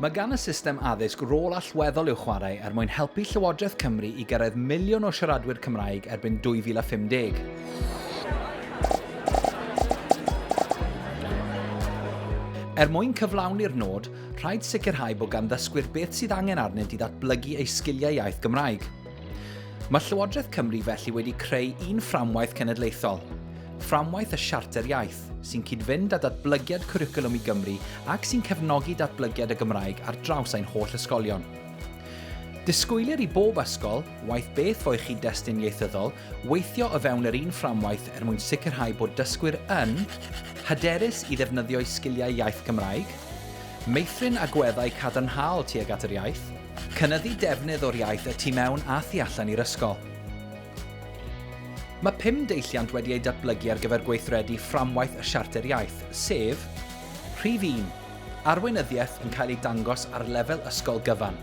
Mae gan y system addysg rôl allweddol i'w chwarae er mwyn helpu Llywodraeth Cymru i gyrraedd miliwn o siaradwyr Cymraeg erbyn 2050. Er mwyn cyflawni'r nod, rhaid sicrhau bod gan ddysgwyr beth sydd angen arnynt i ddatblygu eu sgiliau iaith Gymraeg. Mae Llywodraeth Cymru felly wedi creu un fframwaith cenedlaethol, fframwaith y Siarter Iaith, sy'n cyd-fynd â datblygiad cwricwlwm i Gymru ac sy'n cefnogi datblygiad y Gymraeg ar draws ein holl ysgolion. Disgwylir i bob ysgol, waeth beth fo'u chyd-destun ieithyddol, Weithio o fewn yr un fframwaith er mwyn sicrhau bod dysgwyr yn, Hyderus i ddefnyddio'u sgiliau iaith Gymraeg, Meithrin agweddau cadarnhaol tuag at yr iaith, Cynyddu defnydd o'r iaith y tu mewn a thu allan i'r ysgol. Mae pum deilliant wedi eu datblygu ar gyfer gweithredu fframwaith y Siarter Iaith, sef, Rhif un, Arweinyddiaeth yn cael ei dangos ar lefel ysgol gyfan.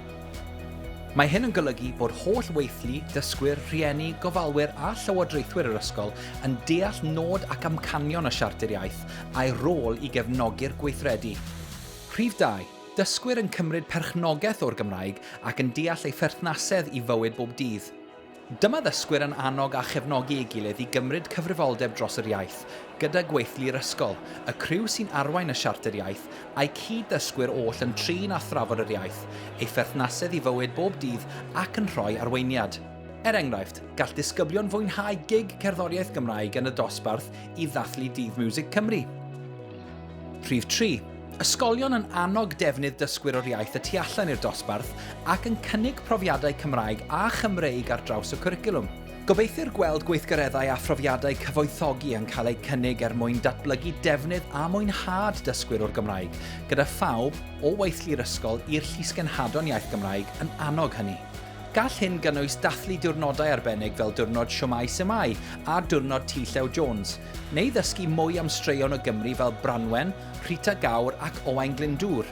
Mae hyn yn golygu bod holl weithlu, dysgwyr, rhieni, gofalwyr a llywodraethwyr yr ysgol yn deall nod ac amcanion y Siarter Iaith a'i rôl i gefnogi'r gweithredu. Rhif dau, dysgwyr yn cymryd perchnogaeth o'r Gymraeg ac yn deall ei pherthnasedd i fywyd bob dydd. Dyma ddysgwyr yn annog a chefnogi ei gilydd i gymryd cyfrifoldeb dros yr iaith, gyda gweithlu yr ysgol, y criw sy'n arwain y Siarter Iaith, a'u cyd-ddysgwyr oll yn trin a thrafod yr iaith, ei pherthnasedd i fywyd bob dydd ac yn rhoi arweiniad. Er enghraifft, gall disgyblion fwynhau gig cerddoriaeth Gymraeg yn y dosbarth i ddathlu Dydd Miwsig Cymru. Rhif 3. Ysgolion yn annog defnydd dysgwyr o'r iaith y tu allan i'r dosbarth ac yn cynnig profiadau Cymraeg a Chymreig ar draws y cwricwlwm. Gobeithir gweld gweithgareddau a phrofiadau cyfoethogi yn cael eu cynnig er mwyn datblygu defnydd a mwynhad dysgwyr o'r Gymraeg, gyda phawb, o weithlu'r ysgol i'r Llysgenhadon Iaith Gymraeg, yn annog hynny. Gall hyn gynnwys dathlu diwrnodau arbennig fel Diwrnod Shwmae Symai a Diwrnod Ti Llew Jones, Neu ddysgu mwy am straeon o Gymru fel Branwen, Rhita Gawr ac Owain Glyndŵr.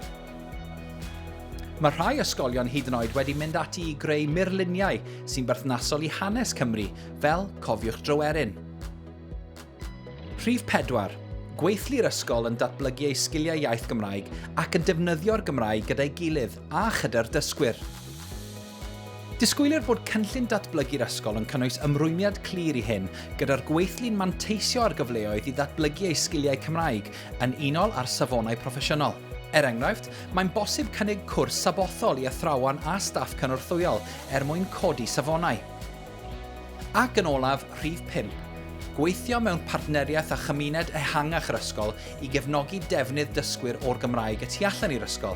Mae rhai ysgolion hyd yn oed wedi mynd ati i greu murluniau sy'n berthnasol i hanes Cymru, fel Cofiwch Dryweryn. Rhif 4. Gweithlu'r ysgol yn datblygu eu sgiliau iaith Gymraeg ac yn defnyddio'r Gymraeg gyda'i gilydd a chyda'r dysgwyr. Disgwylir fod cynllun datblygu'r ysgol yn cynnwys ymrwymiad clir i hyn, gyda'r gweithlu'n manteisio ar gyfleoedd i ddatblygu eu sgiliau Cymraeg yn unol â'r safonau proffesiynol. Er enghraifft, mae'n bosib cynnig cwrs sabothol i athrawon a staff cynorthwyol er mwyn codi safonau. Ac yn olaf, rhif pump, gweithio mewn partneriaeth â chymuned ehangach yr ysgol i gefnogi defnydd dysgwyr o'r Gymraeg y tu allan i'r ysgol.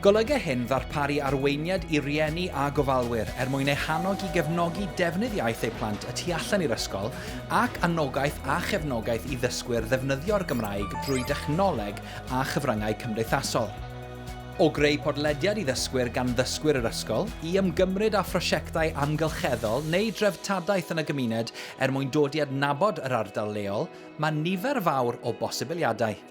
Golyga hyn ddarparu arweiniad i rieni a gofalwyr er mwyn eu hannog i gefnogi defnydd iaith eu plant y tu allan i'r ysgol ac anogaeth a chefnogaeth i ddysgwyr ddefnyddio'r Gymraeg drwy dechnoleg a chyfryngau cymdeithasol. O greu podlediad i ddysgwyr gan ddysgwyr yr ysgol, i ymgymryd â phrosiectau amgylcheddol neu dreftadaeth yn y gymuned er mwyn dod i adnabod yr ardal leol, mae nifer fawr o bosibiliadau.